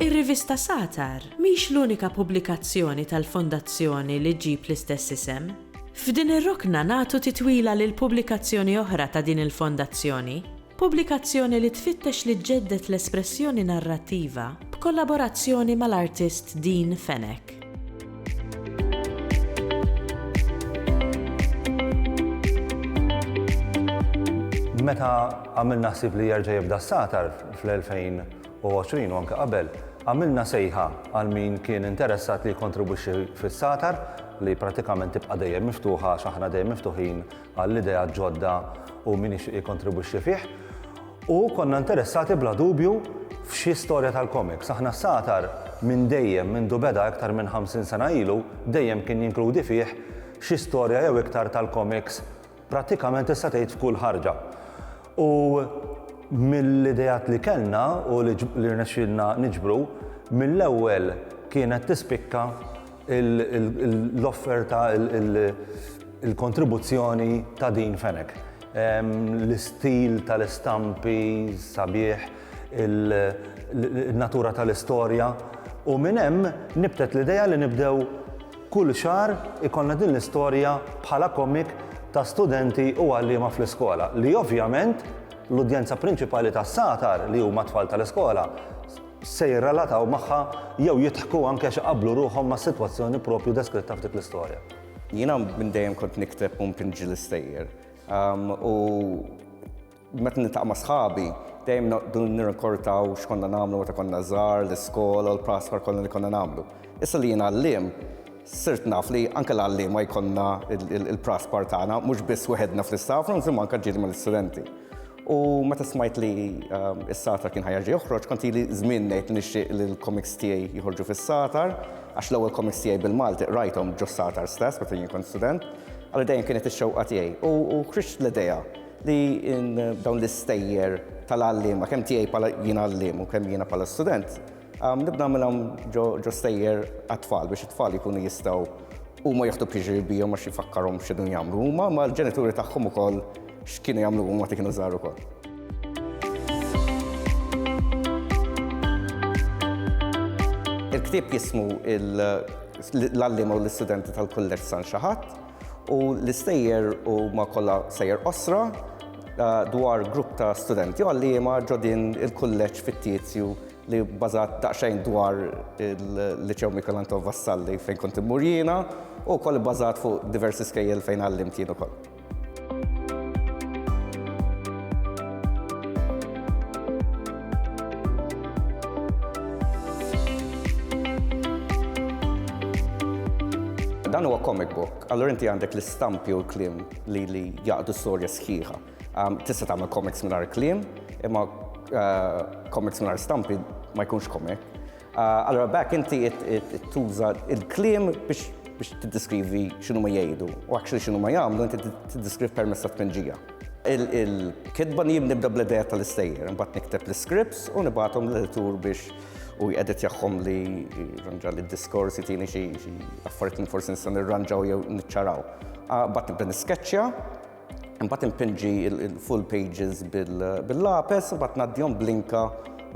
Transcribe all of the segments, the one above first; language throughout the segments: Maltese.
Ir-rivista Satar mhix l-unika pubblikazzjoni tal-Fondazzjoni li ġġib l-istess isem. F'din ir-rokna nagħtu titwila lil pubblikazzjoni oħra ta' din il-Fondazzjoni, Pubblikazzjoni li tfittex li ġġedded l-espressjoni narrattiva b'kollaborazzjoni mal-artist Dean Fenech. Meta għamilna ħsieb li jerġa' jibda s-satar fl-2020 u anke qabel, għamilna sejħa għal min kien interessat li jikkontribwixxi fis-satar li prattikament tibqa' dejjem miftuħa għax aħna dejjem miftuħin għall-ideat ġodda u min jixtieq jikkontribwixxi fih. U konna interessati bla dubju f'xi storja tal-komiks. Aħna s-satar minn dejjem mindu beda iktar minn 50 sena ilu dejjem kien jinkludi fih xi storja jew iktar tal-komiks prattikament tista' tgħid f'kull ħarġa. U mill-ideat li kellna u li rnexxielna niġbru, mill-ewwel kienet tispikka l-offerta, il-kontribuzzjoni ta' din Fenech. L-istil tal-istampi sabiħ, in-natura tal-istorja u minn hemm nibtet l-idea li nibdew Kull xahar ikollna din l-istorja bħala komik ta' studenti u għalliema fl-iskola li ovvjament l-udjenza prinċipali tas-satar li huma t-tfal tal-iskola se jirrelataw magħha jew jidħku anke għax iqabblu ruħhom mas-sitwazzjoni proprju deskritta f'dik l-istorja. Jiena minn dejjem kont nikteb u npinġi l-istejjer u Meta niltaqa' ma' sħabi, dejjem noqogħdu nirrikordaw x'konna nagħmlu meta konna żgħar, l-iskola u l-praspar kollha li konna nagħmlu. Issa li jien għalliem, sirt naf li anke l-għalliema jkollna l-praspar tagħna, mhux biss weħedna fl-istaff rooms imma anke ġieli mal-istudenti. U meta smajt li s-Satar kien ħa jerġa' joħroġ, kont ili żmien ngħid li nixtieq li l-komiks tiegħi joħorġu fis-Satar, għax l-ewwel komiks tiegħi bil-Malti qrajthom ġo s-Satar stess meta jien kont student. Allura dejjem kienet ix-xewqa tiegħi u ħriġt l-idea. li in dawn l-istejjer tal-għalliema, kemm tiegħi bħala jien għalliem u kemm jiena bħala student, um, nibda nagħmilhom ġo, ġo stejjer għat-tfal biex it-tfal jkunu jistgħu huma joħdu piġri bihom għax jifakkarhom x'inhu jagħmlu huma, ma l-ġenituri tagħhom ukoll x'kienu jagħmlu huma ti kienu żgħar ukoll. Il-ktieb jismu l-għalliema u l-istudenti tal-kulleġġ San Xaħat U l-istejjer huma kollha sejjer qosra dwar grupp ta' studenti għalliema ġo din il-kulleġġ fittizju li bbażat daqsxejn dwar il-Liċew Michelangelo Vassalli fejn kont immur jiena u wkoll ibbażat fuq diversi skejjel fejn għallimt jien ukoll. Dan huwa comic book, allura inti għandek l-istampi u l-klim li li jaqdu storja sħiħa. Um, tista' tagħmel comics mingħajr klim, imma uh, comics mingħajr stampi ma jkunx comic. Allura b'hekk inti tuża l-kliem biex biex tiddeskrivi x'inhu ma jgħidu u actually x'inhu ma jagħmlu inti tiddeskriv permezz ta' tpenġija. Il-kitba jien nibda bl-idea tal-istejjer, imbagħad nikteb l-scripts u nibgħathom l-editur biex u jqedet jagħhom li ranġa li d-diskors jitini xi affarijiet li forsi nista' nirranġaw jew niċċaraw. Bad nibda nisketchja Imbagħad impinġi l-full pages bil-lapes, imbagħad ngħaddihom blinka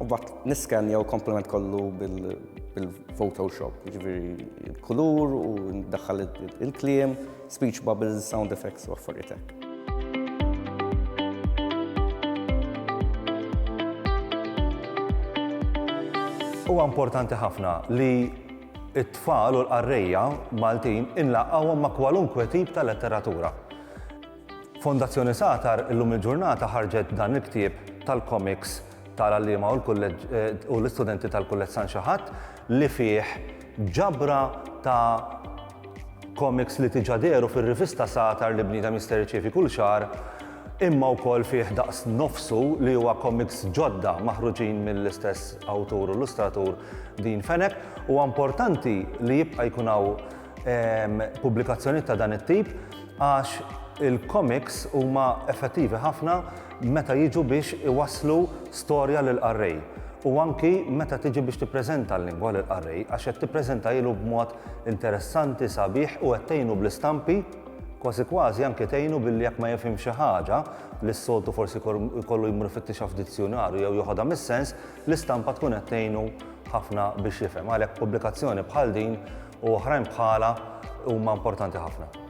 u bat niskanja u komplement kollu bil-Photoshop, ġviri il-kulur u daħħal il-kliem, speech bubbles, sound effects u affarietek. Huwa importanti ħafna li It-tfal u l-qarrejja Maltin inlaqgħuhom ma' kwalunkwe tip ta' letteratura. Fondazzjoni Satar illum il-ġurnata ħarġet dan il-ktieb tal-komiks tal-għalliema u l-istudenti tal-Kulleġġ San Xi Ħadd li fih ġabra ta' Komiks li diġà dehru fir-rivista Satar li bniedem jista' jirċievi kull xahar, imma wkoll fih daqs nofsu li huwa komiks ġodda maħruġin mill-istess awtur u illustratur Dean Fenech. Huwa importanti li jibqa' jkun hawn pubblikazzjonijiet ta' dan it-tip għax il-komiks huma effettivi ħafna meta jiġu biex iwasslu storja lill-qarrej u anki meta tiġi biex tippreżenta l-lingwa lill-qarrej għax qed tippreżentailu b'mod interessanti, sabiħ u qed tgħinu bl-istampi, kważi kważi anke tgħinu billi jekk ma jifhimx xi ħaġa li s-soltu forsi jkollu jmur ifittixha f'dizzjunarju jew joħodha mis-sens, l-istampa tkun qed tgħinu ħafna biex jifhem. Għalhekk pubblikazzjoni bħal din u oħrajn bħalha huma importanti ħafna.